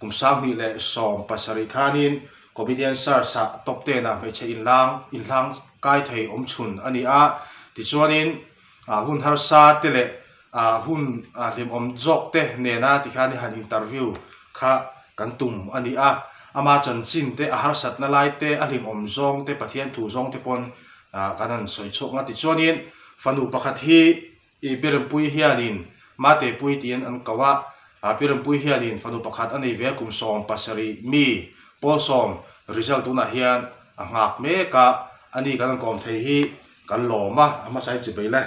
Kum sanghnih leh sawm pasarih khanin Comedian Search-ah Top Ten ah hmeichhe inlang inhlang kai thei awm chhun a ni a, tichuanin hun harsa te leh hun hlimawm zawk te nena tikhan han interview kha kan tum a ni a, ama chanchin te, a harsatna lai te, a hlimawm zawng te, Pathian thu zawng te pawn kan han sawi chhuak a, tichuanin fanu pakhat hi I Pirmpuii hian in Mate Puii tiin an koh a, a Pirmpuii hian in fanu pakhat a nei ve a, kum sawm pasarih mi Pawl sawm result tunah hian a nghak mek a, a ni kan rawn kawm thei hi kan lawm a, a hmasa hi chubei le.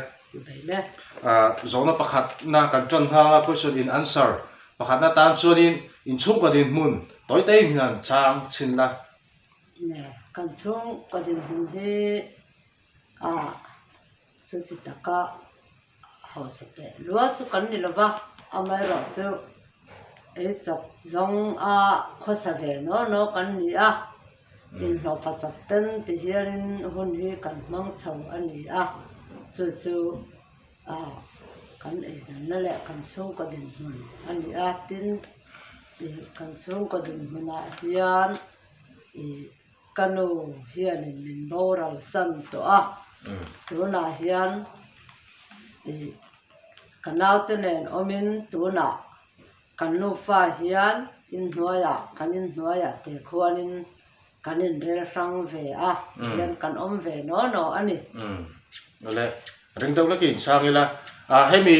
A zawhna pakhatna kan tan nghal a, question in answer pakhatna tan chuan in in chhung kaw dinhmun tawi tawiin hi an chang chhin la. Kan chhung kaw dinhmun hi a. Chuti taka hausa teh luah chu kan ni lova, amaherawh chu ei chawp zawng a khawsa ve naw naw kan ni a, inhlawhfa chawp ten ti hialin hun hi kan hmang chho a ni a, chu chu kan eizawnna leh kan chhungkaw dinhmun a ni a, tin kan chhungkaw dinhmunah hian ih. Ka nu hianin min boral san tawh a, tunah hian i ka naute nen awmin tunah kan nufa hian in hnuaiah kan in hnuaiah te khuanin kan inrel hrang ve a, tihian kan awm ve naw naw a ni. Awle, ring deuh lakin sang ila, a hemi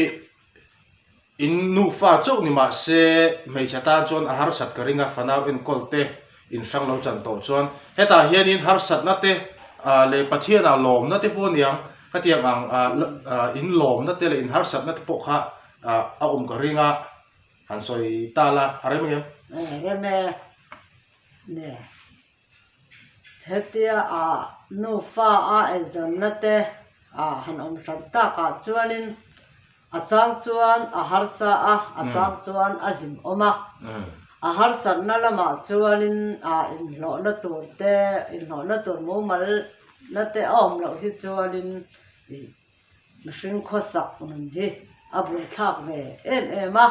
In nufa chauh ni mah se hmeichhe tan chuan a harsat ka ring a, fanau enkawl te in hrang lo chan tawh chuan hetah hianin harsatna te leh Pathianah lawmna te pawh aniang ka tiang ang in lawmna te leh in harsatna te pawh kha a awm ka ring a han sawi ta la a rem em? A rem e. Hetia a nufa a eizawnna te a han awm hran tak ah chuanin a chang chuan a harsa a, a chang chuan a hlim awm a. A harsatna lamah chuanin inhlawhna tur te, inhlawhna tur mumal na te a awm loh hi chuanin Mihring khawsak nun hi a buaithlak ve em em a,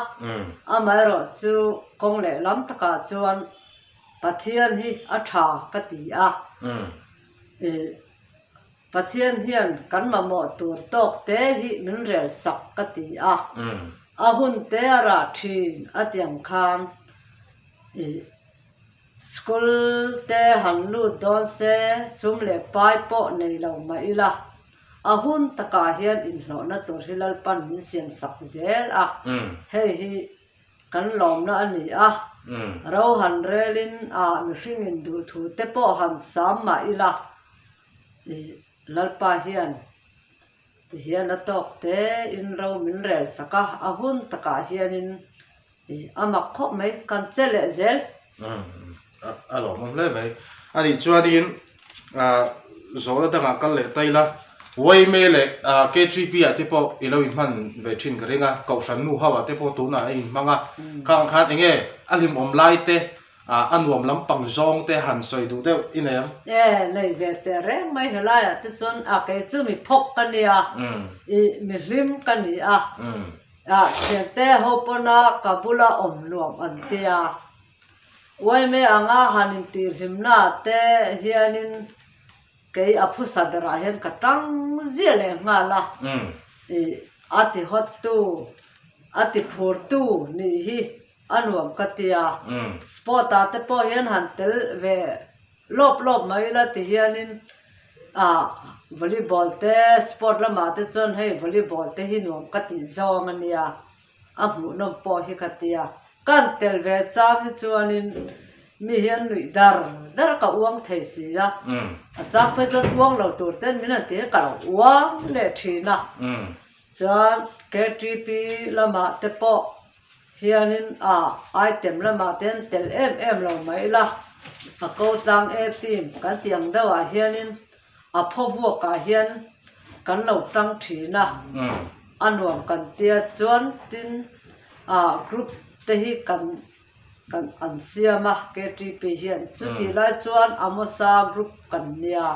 amaherawh chu kawng leh lam takah chuan Pathian hi a tha ka ti a, i Pathian hian kan mamawh tur tawk te hi min rel sak ka ti a, a hun te a ra thin atiang khan i school te han lut dawn se sum leh pai pawh nei lo mah ila. A hun takah hian inhlawhna tur hi Lalpan min siam sak zel a, hei hi kan lawmna a ni a, rohan relin a mihringin duh thu te pawh han sam mah ila i Lalpa hian tihian a tawk te in ro min rel sak a, a hun takah hianin A mak khawp mai, kan che leh zel. A lawmawm hle mai. A nih chuanin zawl a dangah kal leh ta ila, Wayme leh KGB ah te pawh i lo inhman ve thin ka ring a, Kohhran nu ho ah te pawh tunah a inhmang a. Khang khan enge a hlimawm lai te, a nuam lampang zawng te han sawi duh deuh i nei ang? E, nei ve teh reng mai. Helai ah te chuan, a, kei chu mi phawk ka nia, i, mi hlim ka ni a. Ah Thiante ho pawna ka bula awm nuam an ti a. Uaime anga han intihhlimna te hianin kei a phusa berah hian ka ṭang zia leh nghal a. Ih, a tihawttu, a tiphurtu nih hi a nuam ka ti a. Spot-ah te pawh hian han tel ve. Lawp lawp mai ila ti hianin ah volleyball te sport lamah te chuan hei volleyball te hi nuam ka tih zawng a nia a hmuh nawm pawh hi ka tia kan tel ve chang hi chuanin mi hi an nuih dar dar ka uang thei si a a chang phei chuan uang lo tur ten min han ti hi ka lo uang leh thin a chuan ktp lamah te pawh. Hianin a item lamah te an tel em em lo mai ila, a ko tlang e team kan tih ang deuh ah hianin a phaw vuak ah hian kan lo tang thin a, a nuam kan tia chuan tin ah group te hi kan kan an siam a, KTP hian chutih lai chuan Amosa group kan nia.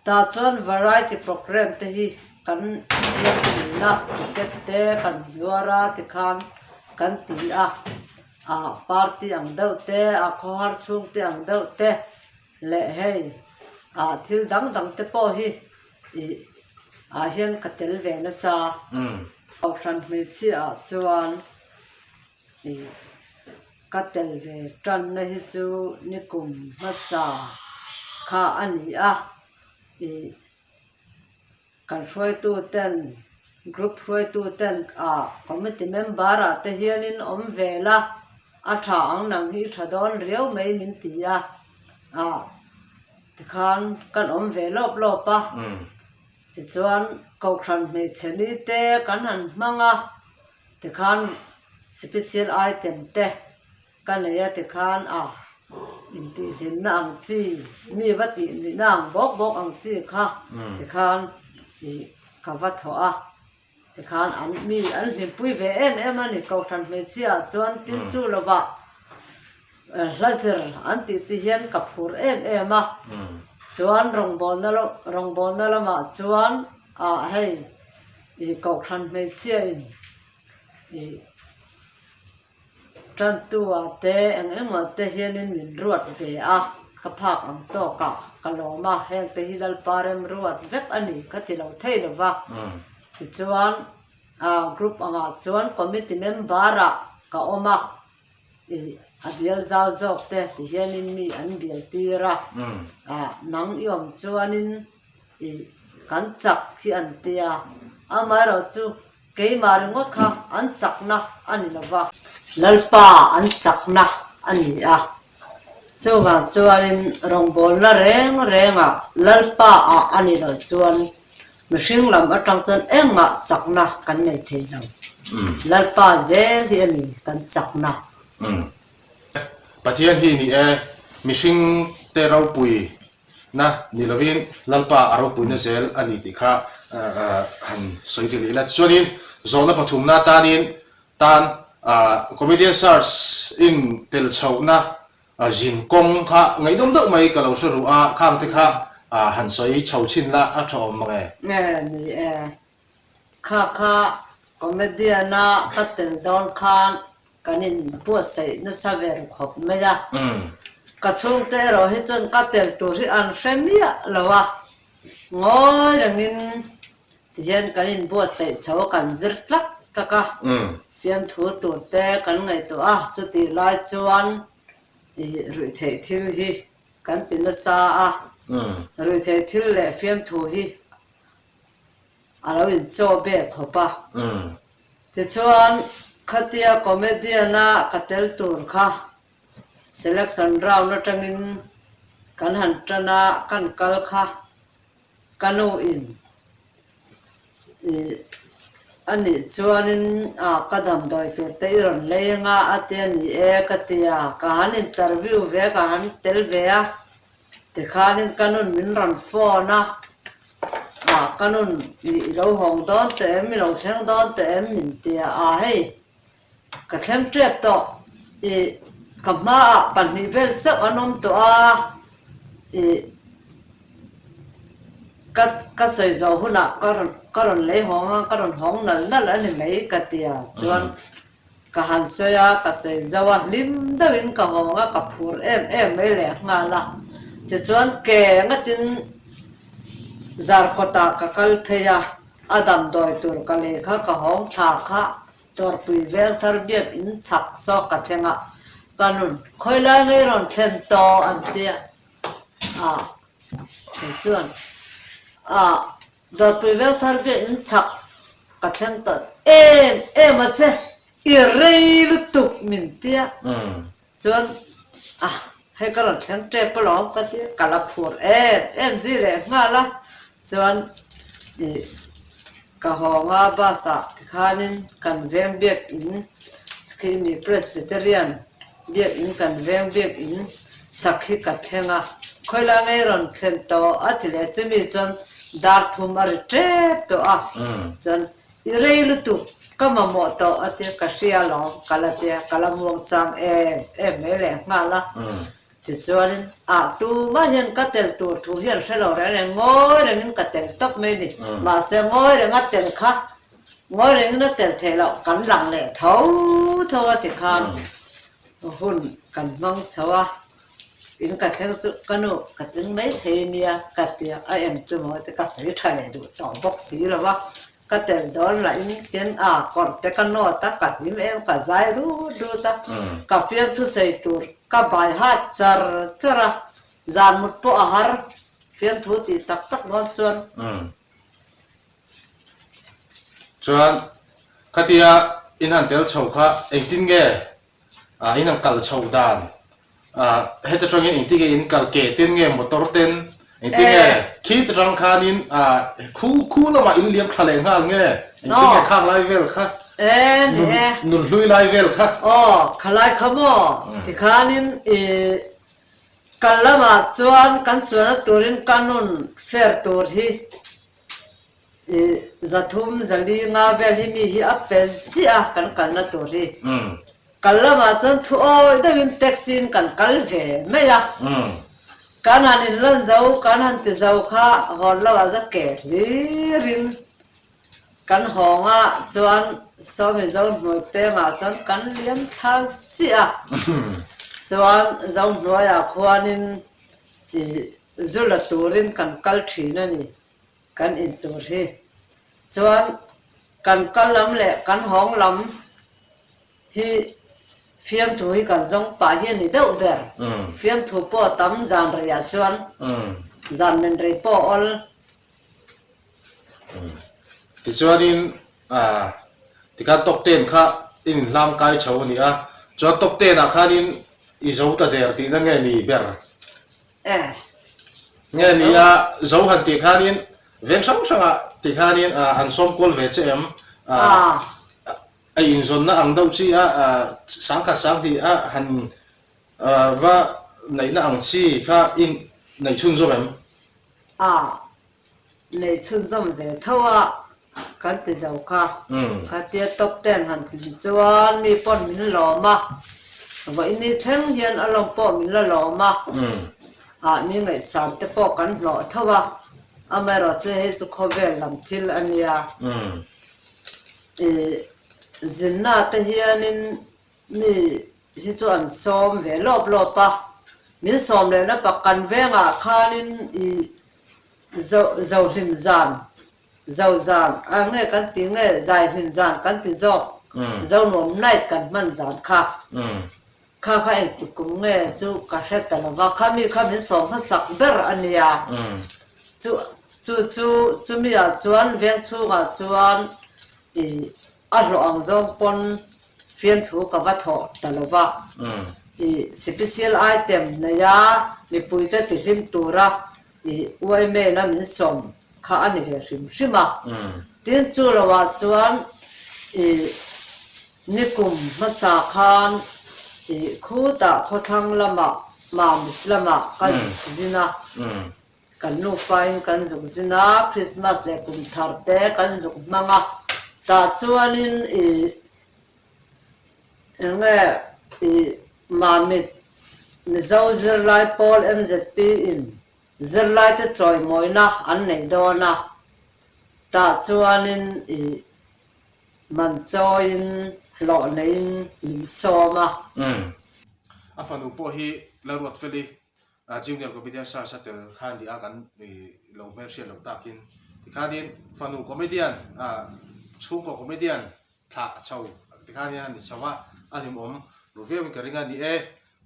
Tah chuan variety programme te hi kan siam a ni a ticket te kan zuar a ti khan kan ti a ah party ang deuh te ah khawhar chhung te ang deuh te leh hei ah thil dang dang te pawh hi ih ah hian ka tel ve nasa a Kohhran hmeichhia ah chuan-- tih ka tel ve tanna hi chu nikum hmasa kha a ni a ih kan hruaitu ten group hruaitu ten ah committee member ah te hian in awm ve la a tha ang nang hi i tha dawn riau mai min ti a ah tikhan kan awm ve lawp lawp a. Tichuan, Kohhran hmeichhe ni te kan han hmang a ti khan Special item te ka nei a ti khan a intihhlimna ang chi, mi va tih nihna ang bawk bawk ang chi kha ti khan ih ka va thawh a. Tikhan an mi an hlimpui ve em em a ni. Kohhran hmeichhia chuan tin chu lovah hla zir an tihte hian ka phur em em a. Chuan rawngbawlna lamah chuan ah hei, Kohhran hmeichhiain ih. Tantua te eng emaw te hianin min ruat ve a, ka phak ang tawk a, ka lawm a, heng te hi Lalpa remruat vek a ni ka ti lo thei lo va, tichuan group angah chuan committee member ah ka awm a, a bial zau zawk te ti hianin mi an bial tir a, nang i awm chuanin. ih kan chak hi an ti a, amaherawh chu keimah ringawt kha an chakna a ni lo va. Lalpa an chakna a ni a, chuvang chuanin rawngbawlna reng renga Lalpa a a ni loh chuan mihring lam atang chuan engmah chakna kan nei thei lo, Lalpa zel hi a ni kan chakna. Pathian hi a ni e, mihringte ropui Na ni lovin Lalpa a ropuina zel a ni tih kha han sawi ti leh ila. Tichuanin zawhna pathumna atanin tan Comedian Sirs in tel chhohna zin kawng kha ngaihdawm deuh mai ka lo hre ruh a, khangte kha han sawi chho chin la, a tha awm mange? Kha kha comedian a ka tel dawn khan kan in buatsaih nasa ve ru khawp mai a, ka chhungte erawh hi chuan ka tel tur hi an hre miah lo a, ngawi rengin tihian kan in buatsaih chho kan zir tlak tlak a, fiamthu tur te kan ngaihtuah a, chutih lai chuan i ruih theih thil hi kan ti nasa a, ruih theih thil leh fiamthu hi a lo inchawh ber khawp a. Tichuan, khatia comedian-a ka tel tur kha selection round atangin kan han tana kan kal kha ka nu in ih a nih chuanin ah ka damdawi turte i rawn lei anga a tia ni e ka ti a, ka han interview ve a ka han tel ve a. Tikhanin ka nun min rawn phone a, ah ka nun ih i lo hawng dawn teh em, i lo thleng dawn teh em min ti a, ah hei ka thleng tep tawh i ka hmaah pahnih vel chauh an awm tawh a, i ka ka sawi zo hunah ka rawn ka rawn lei hawng a, ka rawn hawng nal nal a ni mai ka ti a, chuan Ka han sawi a, ka sawi zauh a, hlim deuh in ka nghawng a, ka phur em em mai leh nghal a, tichuan ke ngat in zar kawt ah ka kal phei a, a damdawi tur ka lei kha ka hawng tha kha tawrhpui vel thar biak in chak sawk ka thleng a, ka nun khawilai ngei rawn thlen tawh an ti a. Kei chuan, Aah, Dawrpui vel thar biakin chhak ka thleng ta em em a che, i rei lutuk min ti a. Chuan, Aah, hei ka rawn thleng tep alawm ka ti a, ka la phur em em zui leh nghal a. Chuan i ka hawng a bus ah tikhanin kan veng biak in Skhimi Presbyterian. Biakinn kan veng bik in sak hi ka thleng a, khawilai ngei rawn thlen tawh a ti leh chumi chuan dar phum a ri tep tawh a, chuan i rei lutu ka mamawh tawh a tia ka hria lo ka la tia ka la muangchang em em mai leh nghal a, tichuanin a tumah hian ka tel tur thu hian hrelo reng reng ngawi rengin ka tel tawp mai a ni, mahse ngawi renga tel kha. Ngawi reng na tel thei loh kan lang leh tho tho a ti khan ka hun kan hmang chho a, tin ka thleng chu ka nu ka tling mai thei a nia ka ti a, a em chu maw ka sawi tha leh duh tawh bawk si lo a, ka tel dawn lah in tin a kawrh te ka nawt a ka hlim em ka zai rut rut a, ka fiam thusawi tur ka bai hat char char a, zan mut pawh a har fiamthu tih tak tak dawn chuan Chuan khatia in han tel chho kha engtin nge ah in han kal chho dan ah heta tangin engtin nge in kal ke ten nge motor ten engtin nge khit atang khanin ah khu khu lamah in liam thla leh nghal nge engtin nge khang lai vel kha nun hlui lai vel kha aw kha lai kha maw tikhanin i kal lamah chuan kan chuan a turin ka nun fer tur hi. I zathum, zali, nga vel hi mi hi a pel ziah a kan kalna tur hi. Kal lamah chuan thu awi deuhin taxi'n kan kal ve mai a. Kan han inlan zo, kan han ti zo kha hawn lamah chuan ke hlirin kan hawnga chuan Sawmi Zohnuai pengah chuan kan liam thar ziah a. Chuan Zohnuaia khuanin i zu la turin kan kal thin a ni kan in tur hi chuan kan kal lam leh kan hawng lam hi fiamthu hi kan zawng pah hi a ni deuh ber fiamthu pawh tam zan rei ah chuan zan men rei pawh awl Tichuanin tikhan top ten kha in inhlam kai tho a ni a, chuan top ten ah khanin i zo ta der tihna nge ni ber? Nge ni a zo han tih khanin veng hrang hrangah tikhanin an sawm kual ve che em? A inzawnna ang deuh chi a, sang khat sang hnih a han va neihna ang chi kha i neih chhun zawk em? Nei chhun zawm ve tho a kan ti zo kha. Ka tia top ten han ti ti chuan mi pawn min lawm a, vawini thleng hian a lawm pawh min la lawm a, ah mi ngaihsam te pawh kan hlawh tho a, amaherawh chu hei chu khawvel lam thil a nia. Ih zinna te hianin mi hi chu an sawm ve lawp lawp a, min sawm leh na pa kan vengah khanin ih. Zau zau hlim zan, zau zan a nge kan ti nge zai hlim zan kan ti zawk zau nuam night kan hman zan kha kha kha engtik kum nge chu ka hre ta lo va kha mi kha min sawm hmasak ber a ni a chu chu chu chumi ah chuan vengchhung ah chuan I a hlawh ang zawng pawn fianthu ka va thawh ta lo va, i sipisial aitem neia mipuite tihlim tura i uaimena min sawm kha a ni ve hrim hrim a. Tin, chu lo ah chuan i nikum hmasa khan i khutah khawthlang lamah Mamit lamah ka zin a. Kan nufain kan zuk zin a, Krismas leh kum thar te kan zuk hmang a, tah chuanin i eng nge i mamit Mizo zirlai pawl mzp in zirlai te chawimawina an neih dawn a, tah chuanin i man chawiin hlawh neiin min sawm a. A fanu pawh hi la ruat fel i A junior comedian Sir Sa Tel khan nih a kan i lo hmel hriat loh tak in tikhanin fanu comedian a chhungkaw comedian thla chho tikhanin a ni chho a a hlimawm ru viau in ka ring a ni e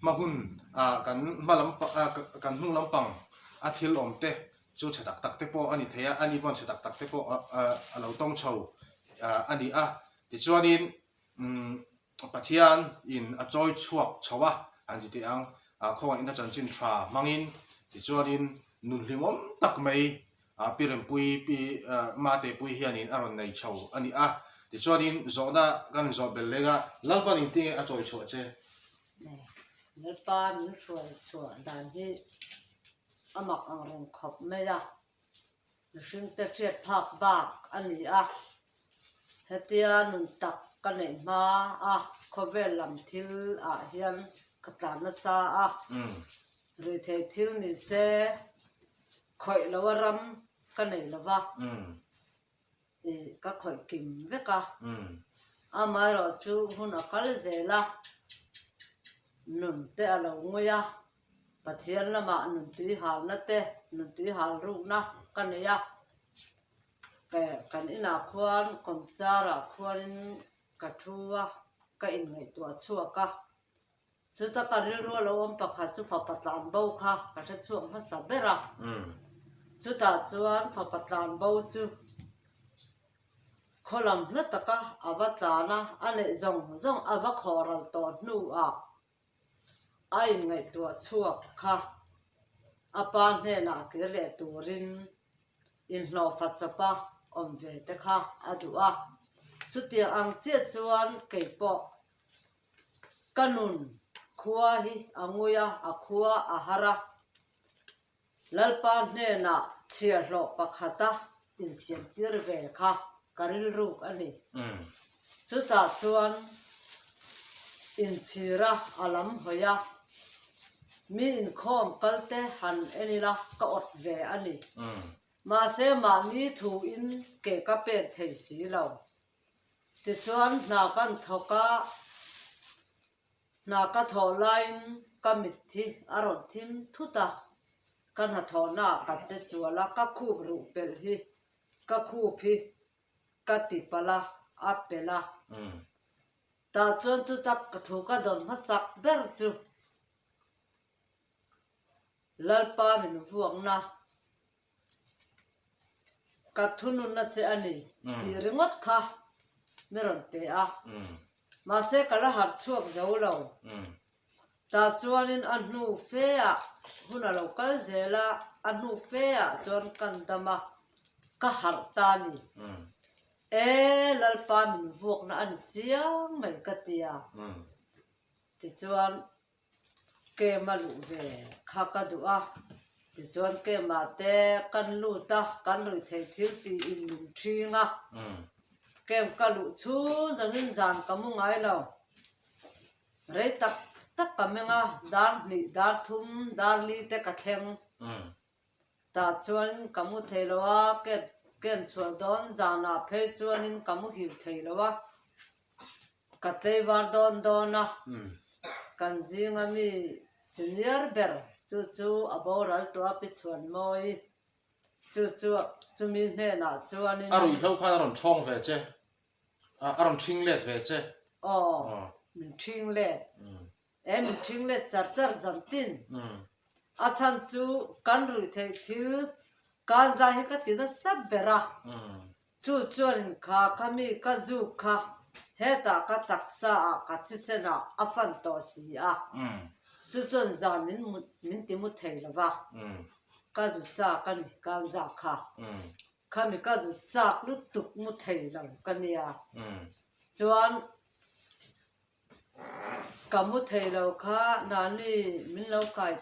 hma hun a kan hma lam pang a kan hnung lam pang a thil awm te chu chhe tak tak te pawh a ni thei a ani pawh chhe tak tak te pawh a lo tawng chho a ni a tichuanin umm Pathian in a chawi chhuak chho a an ti teh ang, khawngaih na chanchin tha hmangin, tichuanin nun hlimawm tak mai Pi Rempuii Pi Matepuii hianin a rawn nei chho a ni a, tichuanin zawhna kan zawh bel lenga Lalpan in tinge a chawi chhuah che? Lalpan in hruai chhuah dan hi a mak ang reng khawp mai a. Mihring te hriat phak bak a ni a, hetia nun tak ka neih hma a, khawvel lam thil ah hian ka tlan nasa a, rui thei thil ni se khawih lo a ram ka nei lo va, i ka khawih kim vek a, amaherawhchu hun a kal zel a, nun te a lo ngui a. Pathian lamah nuntui halna te, nuntui hal rukna ka nei a, kan inah khuan kawmchara khuanin ka thu a, ka inngaihtuah chhuak a, chuta ka rilru lo awm pakhat chu fapa tlanbo kha ka hrechhuak hmasa ber a, chutah chuan fapa tlanbo chu khawlam hla taka ava tlan a, a neih zawng zawng ava khawral tawh hnuah. a inngaihtuah chhuak kha a pa hnenah kir leh turin inhlawhfa chawpa awm ve te kha a duh a, chutiang ang chiah chuan keipawh ka nun khua hi a ngui a, a khua a har a. Lalpa hnenah chhia hlawh pakhata insiamtir ve kha ka rilruk a ni. Chutah chuan inchhira a lam hawi a, mi inkhawm kalte han en ila ka awt ve a ni. Mahse mahni thuin ke ka pek thei si lo. Tichuan hna kan thawk a. Hna ka thawh laiin ka mitthi a rawn thim thut a, ka hnathawhnaah ka che sual a, ka khup ruh pelh hi, ka khup hi ka ti palh a, a pelh a. Tah chuan chutak thu ka dawn hmasak ber chu. Lalpa min vuakna ka thununna che a ni tih ringawt kha min rawn pe a. Mahse ka la harh chhuak zo lo. Ta chuanin a hnu feah hun a lo kal zel a, a hnu feah chuan kan dam a, ka harh ta ni e, Lalpa min vuakna a ni chiang mai ka ti a. Tichuan. Kem a luh ve kha ka duh a, tichuan Kema te kan lut a, kan luih thei thil ti in min thing a, Kem ka luh chhung zawngin zan ka mu ngai lo, rei tak tak ka meng a, dar hnih, dar thum, dar li te ka thleng, Ta chuan ka mu thei lo a, ka en chhuah dawn zanah phei chuanin ka mu hil thei lo a, ka tleivar dawn dawn a, kan zinga mi senior ber chu chu a boral tawh a, pi chhuan mawi chu chu chumi hnenah chuanin. A rui hlo khan a rawn chhawng ve che, a rawn thing let ve che. Aw, min thing let. Em mithring let char char zam tin a chhan chu kan ruih theih thil kan zah hi ka ti nasat ber a, chu chuan in kha ka mi ka zuk kha hetah ka taksa ah ka chisen ah a fan tawh si a, chu chuan zan min mut min ti mu thei lo va, ka zu chak a ni kan zah kha, kha mi ka zu chak lutuk mu thei lo ka nia, chuan. Ka hmu thei lo kha Nani min lo kai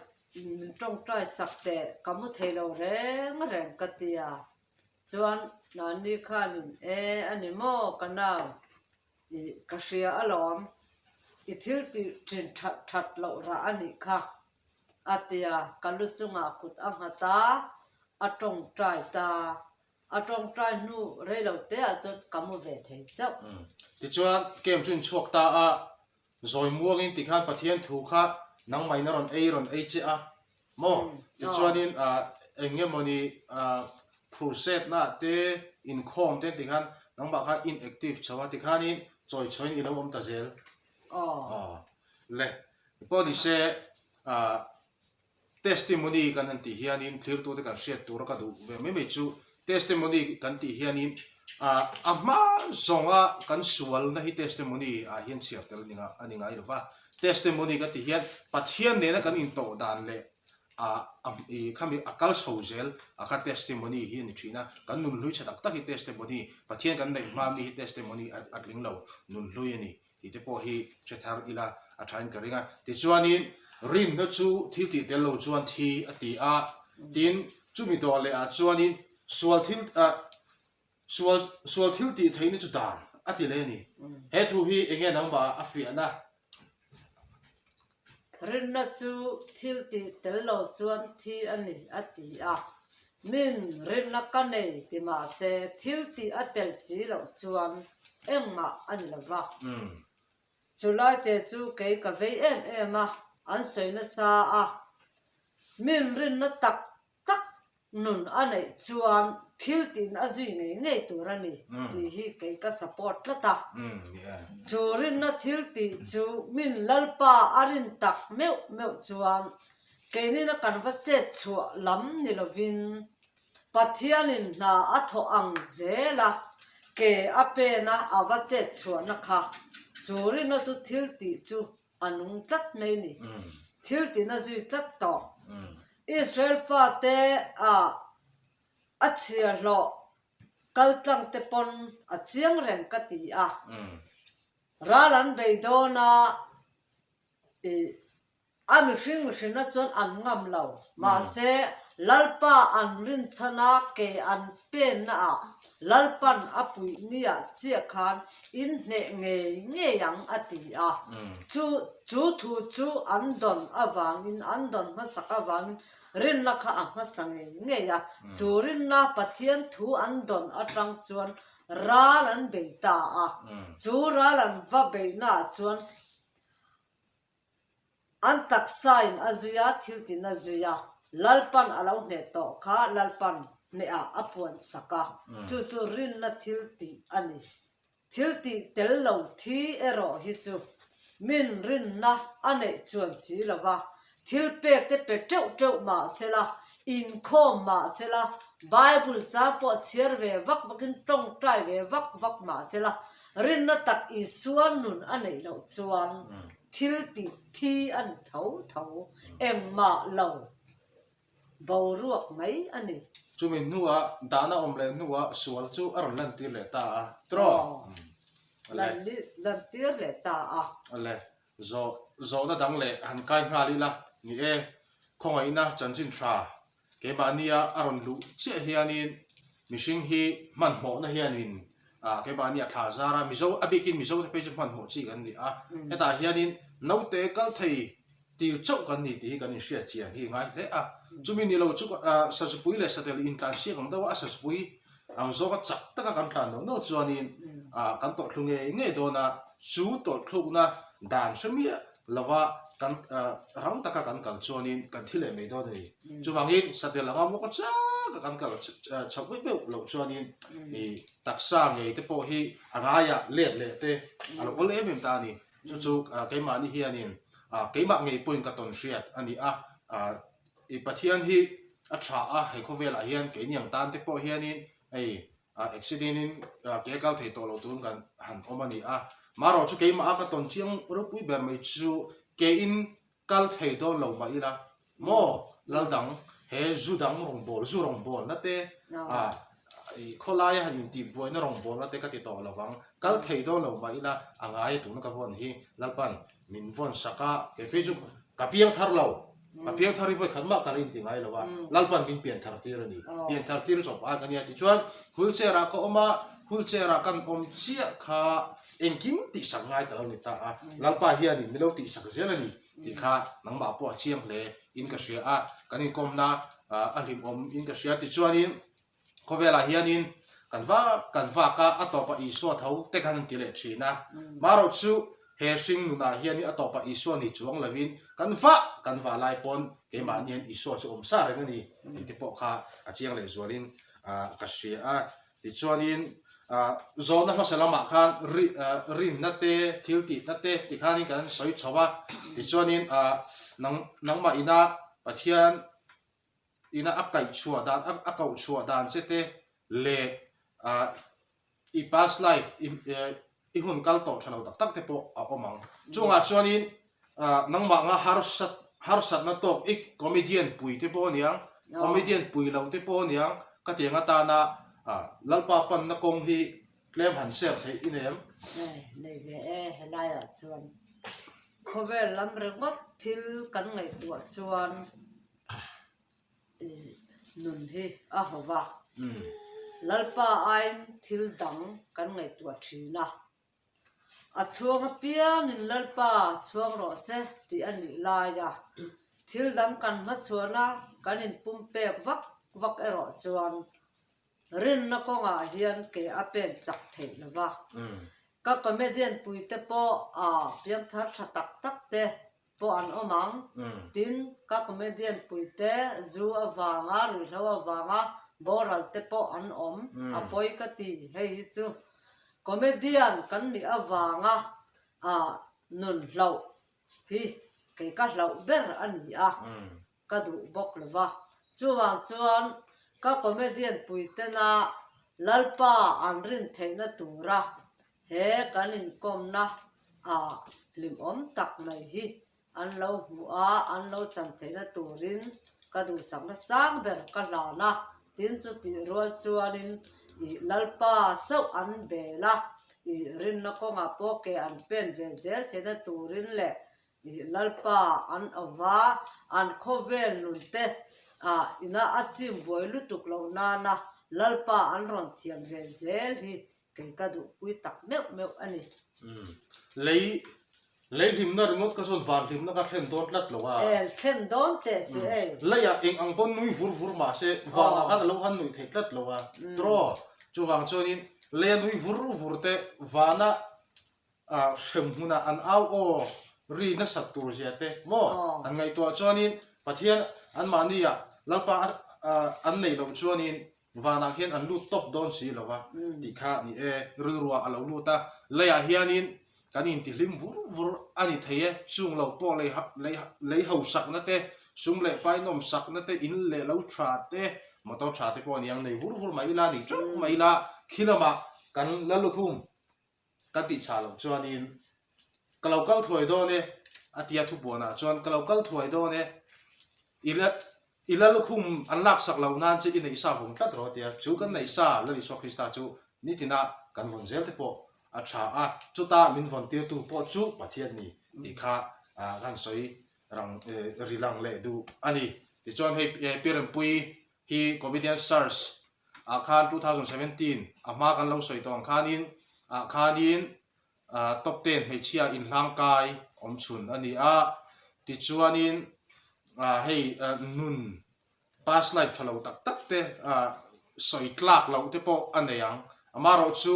min tawngtai sak teh ka hmu thei lo reng reng ka ti a chuan Nani khan in e a ni maw ka nau i ka hria alawm i thil tih thin that that loh rah a nih kha a ti a ka lu chungah kut a nghat a a tawngtai ta. A tawngtai hnu rei lo te ah chuan ka mu ve thei chauh. Tichuan kem chu in chhuak ta a, zawi muang in ti khan Pathian thu kha nangmai na rawn ei rawn ei che a maw? Tichuan in eng nge maw ni Crusade na ah te inkhawm te ti khan nangmah kha inactive chho a ti khan in chawi chho in i lo awm ta zel. Aw le pawh ni se Testimony kan han tih hianin thlirtute kan hriat tura ka duh ve mai mai chu Testimony kan tih hianin a hma zawnga kan sualna hi Testimony ah hian chhiar tel ninga a ni ngai lo va. Testimony ka tih hian Pathian nena kan intawh dan leh i khami a kal chho zel a kha Testimony hi a ni thin a, kan nun hlui tha tak tak hi Testimony, Pathian kan neih hma mi hi Testimony a tling lo nun hlui a ni. Ti te pawh hi hre thar ila a tha in ka ring a. Tichuanin Rinna chu thil tih tel lo chuan thi a ti a, tin chumi dawh leh ah chuanin sual thil ah sual sual thil tih theih na chu dan a ti le ni. He thu hi enge nangmah a fiahna Rinna chu thil tih tel lo chuan thi a ni, a ti a. Min rinna ka nei ti mah se thil tih a tel si loh chuan engmah a ni lo va. Chu laite chu kei ka vei em em a, an sawi nasa a. Min rinna tak tak nun a neih chuan thil tin a zui ngei ngei tur a ni tih hi kei ka support tlat a. Chu rinna thil tih chu min Lalpa a rin tak meuh meuh chuan keinina kan va chet chhuah lam ni lovin Pathianin hna a thawh ang zel a, ke a pena a va chet chhuahna kha chu rinna chu thil tih chu A nung tlat mai ni. Thil tin a zui tlat tawh. Israel pa te ah a chhia hlawh kaltlang te pawn a chiang reng ka ti a. Ral an bei dawn a, ih, a mihring mihrina chuan an ngam lo. Mahse, Lalpa an rinchhana ke an Penna ah Lalpan a puih mi ah chiah khan in hneh ngei ngei ang a ti a. Chu chu thu chu an dawn avang in an dawn hmasak avang in rinna kha a hmasa ngei ngei a. Chu rinna Pathian thu an dawn atang chuan ral an bei ta a. Chu ral an va beihna ah chuan An taksain a zui a, thiltin a zui a, Lalpan a lo hneh tawh kha Lalpan hnehah a puan sak a, chu chu rinna thil tih a ni. Thil tih tel lo thi erawh hi chu min rinna a neih chuan si lo va, thil pek te pe teuh teuh mah se la, inkhawm mah se la, Bible chang pawh chhiar ve vak vakin tawngtai ve vak vak mah se la, Rinna tak Isua nun a neih loh chuan thil tih thi a ni tho tho, engmah lo boruak mai a ni. Chumi hnuah dahna awm leh hnuah sual chu a rawn lantir leh ta a. Trawh. A le. Lantir leh ta a. A le. Zawh, zawhna dang leh han kai nghal ila ni e. Khawngaihna chanchin tha. Keimahnia a rawn luh chiah hianin mihring hi hmanhmawhna hianin keimahni a thla zar a, Mizo a bikin Mizote phei chu hmanhmawh chi kan ni a, hetah hianin naute kal thei tir chauh kan ni tih hi kan inhriatchian hi ngai hle a, chumi ni lo chu Sazupui leh Satel intlansiak ang deuha a Sazupui Ang zawka chak taka kan tlan no no chuanin kan tawrhthlu ngei ngei dawn a, chu tawrhthlukna dan hre miah lova kan rang taka kan kal chuanin kan thi leh mai dawn a ni. Chuvangin satel anga mawka chak a kan kal chhauh beuh beuh loh chuanin taksa ngei te pawh hi a ngaia let leh te a lo awlh em em ta a ni. Chu chu keimahni hianin keimah ngei pawhin ka tawn hriat a ni a, I Pathian hi a tha a, hei khawvelah hian kei niang tan te pawh hianin hei accident-in ke kal thei tawh loh tur kan han awm a ni a. Marawh chu keimah a ka tawn chiang ropui ber mai chu keiin kal thei dawn lo mah ila maw lal dang he zu dang rawngbawl, zu rawngbawlna te, khawlaia han intih buaina rawngbawlna te ka ti tawh lovang, kal thei dawn lo mah ila a ngaia tuna ka vawn hi lalpan min vawn sak a, kei phei chu ka piang thar lo. Ka piang thar i vawi khat mah ka rin ti ngai lo a, Lalpan min pian thar tir a ni. Pian thar tir zawk pakhat ka nia ti chuan wheelchair ah ka awm a, wheelchair ah kan awm chiah kha engkim tihsak ngai ka lo ni ta a, Lalpa hianin min lo tihsak zel a ni tih kha nangmah pawh a chiang hle in ka hria a, kan inkawmna a hlimawm in ka hria ti chuanin khawvel ah hianin kan vak kan vak a, a tawpah Isua tho te kan han ti leh thin a, mah rawh chu He hring nunah hian a tawpah Isua ni chuang lovin, Kan va! Kan va lai pawn, keimahni hian Isua chu awm sa reng a ni, tih te pawh kha a chiang leh zualin ka hria a. Tichuanin zawhna hmasa lamah khan rinna te, thil tihna te ti khanin kan sawi chho a. Tichuanin nangmah ina Pathian. ina a kaih chhuah dan, a kauh chhuah dan che te leh i past life i hun kal tawh tha lo tak tak te pawh a awm ang. Chungah chuanin nangmah nga harsa harsatna tawk ik comedian pui te pawh a niang, comedian pui lo te pawh a niang, ka tiang atana Lalpa panna kawng hi tlem han share theih i nem? Nei ve e, helaiah chuan khawvel lam ringawt thil kan ngaihtuah chuan nun hi a haw va, Lalpa aiin thil dang kan ngaihtuah thin a, a chhuang apiangin Lalpa chhuang rawh se tih a nih laia thil dang kan hmachhuahna kan inpumpek vak vak erawh chuan rinna kawngah hian ke a pen chak theih lo va, ka comedian puite pawh aa pianthar tha tak tak te. pawh an awm ang. Tin, ka comedian puite zu avanga, ruihhlo avanga boral te pawh an awm a pawi ka ti hei hi chu. Comedian kan nih avanga nun hlauh hi kei ka hlauh ber a ni a. ka duh bawk lo va, chuvang chuan ka comedian puitena Lalpa an rin theihna tura he kan inkawmna a hlim awm tak mai hi an lo hmuh a, an lo chan theihna turin ka duhsakna sang ber ka hlan a, tin chu tih rual chuanin i Lalpa chauh an bela i rinna kawngah pawh ke an pen ve zel theihna turin leh Ih Lalpa an awm a, an khawvel nun te ah ina a chim buai lutuk lo nana Lalpa an rawn thiam ve zel hi kei ka duhpui tak meuh meuh a ni. Umm lei lei hlimna ringawt ka zawn van hlimna ka thlen dawn tlat lo a. El thlen dawn teh si ei. Umm lei ah eng ang pawh nui vur vur mah se van ah khan a lo han nuih theih tlat lo a. Draw. Chuvang chuan in lei a nui vur vur te van a hrem hmuna an au aw ri nasat tur zia te maw an ngaihtuah chuanin Pathian anmahni ah Lalpa an nei loh chuanin vanah khian an lut tawp dawn si lo a tih kha ni e, rilruah a lo lut a, lei ah hianin kan intihlim vur vur a ni thei e, chung lo pawh lei hausakna te, sum leh painawm sakna te, in leh lo tha te, motor tha te pawh a niang nei vur vur mai ila, ni teuh mai ila khi lamah kan la lukhum. Kan tih chah loh chuanin, Ka lo kal thuai dawn e, a tia thupuanah chuan, Ka lo kal thuai dawn e, ila ila lukhum an laksak lo nan chu i neih sa vung tlat rawh a tia. Chu kan neih sa lal Isua Krista chu nitina kan vawn zel te pawh a tha a, chuta min vawn tirtu pawh chu Pathian ni tih kha a han sawi rang ri lang leh duh a ni. Tichuan hei Piarenpui Hi Covidian SARS ah khan two thousand seventeen a hma kan lo sawi tawn khan in ah khan in top ten hmeichhia in hlang kai awm chhun a ni a, ti chuan in hei nun past life tha lo tak tak te sawi tlak loh te pawh a nei ang, amarawh chu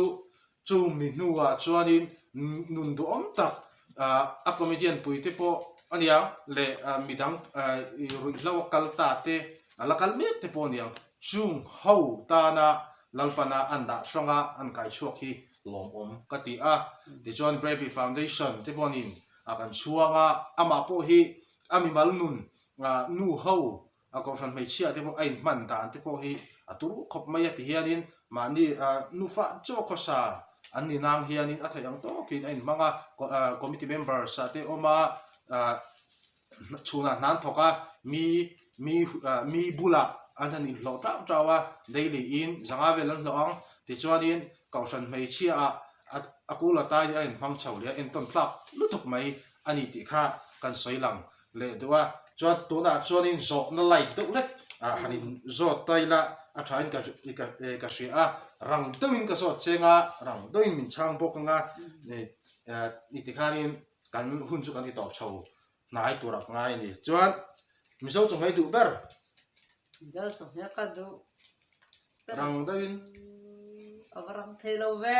Chumi hnuah chuanin nun duhawm tak a comedian puite pawh a niang leh midang ruih hlo a kal ta te a la kal mek te pawh a niang chung ho tana Lalpana an dah hranga an kai chhuak hi lawmawm ka ti a. Tichuan Bravely Foundation te pawhin a kan chhuang a, amah pawh hi a mimal nun nu ho A kohhran hmeichhia te pawh a inhman dan te pawh hi a turu khawp mai a ti hianin mahni nufa chaw khawsa an ninang hianin a theih ang tawkin a inhmang a, committee members te awm a, chhunah hnan thawk a mi bula an han inhlawh tau tau a, daily in zanga vel an hlawh ang tichuanin kohhran hmeichhia ah a kul a tai hi a inhmang chho leh a entawn thlak lutuk mai a ni tih kha kan sawi lang. leh duh a, chuan tunah chuanin zawhna like deuh lek ah han in zawt ta ila, a thain ka eh ka hria a, rang deuhin ka zawt cheng a, rang deuhin min chhang bawk anga eh ni tikhanin kan hun chu kan ti tawp chho hnai tur a ngai a ni, chuan Mizo chawhmeh duh ber, Mizo chawhmeh ka duh ber, rang deuhin ava rang thei lo ve.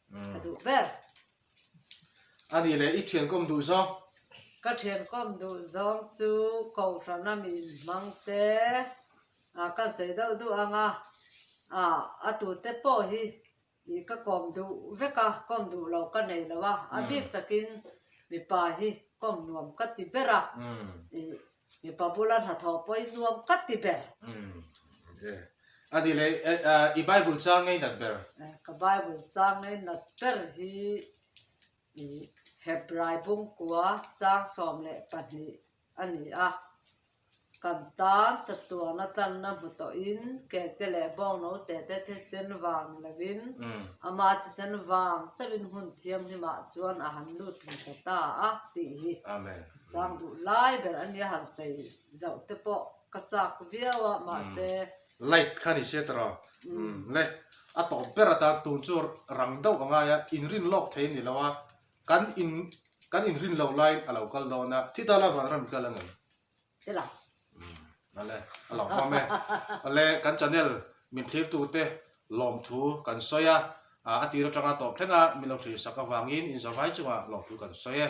Ka duh ber. A nih leh, i thian kawm duh zawng. Ka thian kawm duh zawng chu kohhranna mi inhmang te ah kan sawi deuh duh ang a, ah a tute pawh hi ih ka kawm duh vek a, kawm duh lo ka nei lo a, a bik takin mipa hi kawm nuam ka ti ber a, ih. Mipa bula hnathawh pawhin nuam ka ti ber. Adilei, i Bible chang ngei nat ber? Ka Bible chang ngei nat ber hi i Hebrai bungkua chang sawm leh pahnih a ni a. Kan tan chatuan atangna hmu tawhin kelte leh bawng naute te thisen vang ni lovin ama thisen vang chauhin hun thianghlimah chuan a han lut hmu ta ta a tih hi ka Chang duh lai ber a nia han sawi zauh te pawh ka chak viau a mahse. Light kha ni se ta rawh. Umm le. A tawh ber a tan tun chu rang deuh a ngai a, in rin lawk thei ni lo a, kan in kan in rin lo laiin a lo kal dawn a, thi ta la vanram i kal a nei. Te la. Umm ale a lo hmam e. Ale kan channel min thlir tu te lawm thu kan sawi a, a a tir atanga tawp thleng a min lo thlir sak avangin inzawm ai chungah lawm thu kan sawi e.